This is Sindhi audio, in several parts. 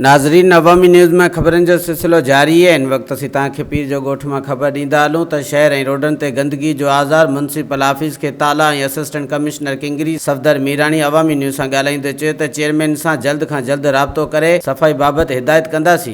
ناظرين نوامي نيوز مان خبرن جو سلسلو جاري آهي ان وقت اسين توهان کي پير جو ڳوٺ مان خبر ڏيندا هلون ته شهر ۽ روڊن تي گندگي جو آزار ميونسپل آفيس کي تالا ۽ assistant commissioner Kungri Safdar Mirani Awami news سان ڳالهائيندي چيو ته چيئرمين سان جلد کان جلد رابطو ڪري صفائي بابت هدايت ڪنداسين.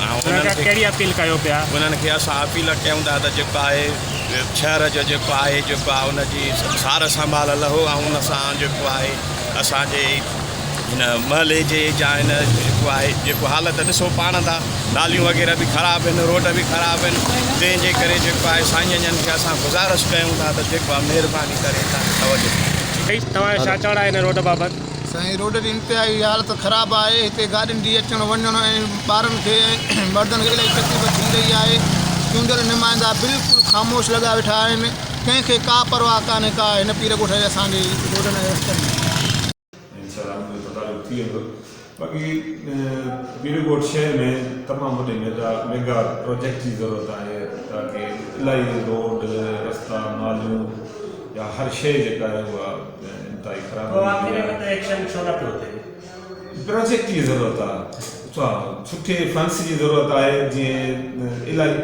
انهن کان ڪهڙي اپيل ڪيو پيا؟ انهن کي اسان اپيل ڪيون ٿا ته جيڪو آهي شهر جو جيڪو آهي جيڪو آهي ان جي سار سنڀال لهو ۽ ان سان جيڪو آهي اسان جي هن محلي جي جا هن جيڪو آهي جيڪو حالت ڏسو پاڻ ٿا ناليون وغيره به خراب آهن روڊ به خراب آهن تنهن جي ڪري جيڪو آهي سائين جن کي اسان گذارش ڪيون ٿا ته جيڪو آهي مهرباني ڪري توجه ڏيو. سائين توهان جو ڇا چوڻ آهي هن روڊ بابت؟ سائين روڊ جي انتهائي حالت خراب آهي هتي گاڏين جي اچڻ وڃڻ ۽ ٻارن کي ۽ مردن کي الائي تڪليف ٿي رهي آهي چونڊيل نمائندا بلڪل خاموش لڳا ويٺا آهن ڪنهن کي ڪا پرواهه ڪانهي ڪا هن پير ڳوٺ جي اسان جي روڊن ۽ رستن جي. انشاءالله ان جو تدارڪ ٿي ويندو باقي پير ڳوٺ شهر ۾ تمام وڏي ميگا پروجيڪٽ جي ضرورت آهي تاڪه الائي روڊ رستا ناليون يا هر شيء جيڪا آهي اها پوء آخر ۾ ته ايڪشن ڇو نه پيو ٿئي؟ پراجيڪٽ جي ضرورت آ اچا سٺي فنس جي ضرورت آهي جيئن الائي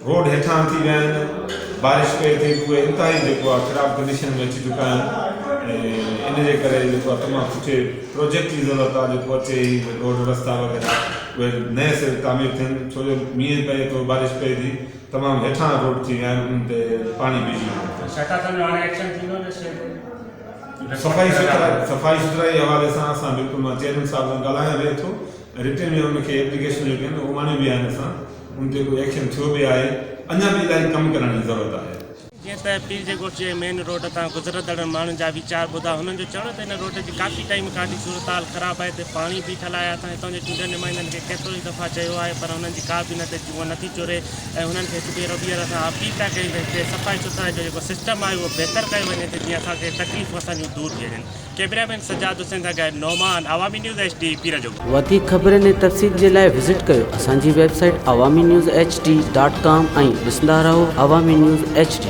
روڊ هيٺان ٿي ويا آهن بارش پئي ٿي اهي انتهائي جيڪو آ خراب ڪنڊيشن ۾ اچي چڪا آهن ۽ ان جي ڪري جيڪو آ تمام سٺي پراجيڪٽ جي ضرورت آ جيڪو اچي هي روڊ رستا وغيره اهي نئين سر تعمير ٿين ڇو جو مينهن پئي ٿو بارش پئي ٿي تمام هيٺان روڊ ٿي ويا آهن انهن تي پاڻي بيهجي ويندو اٿس. شهتا صاحب جو هاڻي ايڪشن ٿيندو ان شيء تي صفائي سٿرائي صفائي سٿرائي حوالي سان اسان بلڪل مان چيئرمين صاحب سان ڳالهايان به اٿو ۽ رٽن ۾ ان کي ايپليڪيشنون جيڪي آهن اهي اڻيون به آهن اسان ان تي ڪو ايڪشن ٿيو به آهي اڃا به الائي ڪم ڪرڻ جي ضرورت آهي. جيئن ته پير جي ڳوٺ جي مين روڊ تان گذرندڙ ماڻهن جا ويچار ٻڌا هنن جو چوڻ هو ته هن روڊ جي ڪافي ٽائيم کان وٺي صورتحال خراب آهي هتي پاڻي بيٺل آهي اسان هتان جي چونڊيل نمائندن کي ڪيترو ئي دفعا چيو آهي پر هنن جي ڪا به نه ته جونء نٿي چوري ۽ هنن کي هڪ ڀيرو ٻيهر اسان اپيل پيا ڪيون ته هتي صفائي سٿرائي جو جيڪو سسٽم آهي اهو بهتر ڪيو وڃي ته جيئن اسان کي تڪليفون اسان جون دور ٿي وڃن ڪيمرا مين سجاد حسين سان گڏ Noman Awami news H D Pir جو ڳوٺ. وڌيڪ خبرن ۽ تفصيل جي لاء وزٽ ڪيو اسان جي website Awami news H D dot com ۽ ڏسندا رهو عوامي نيوز ايڇ ڊي.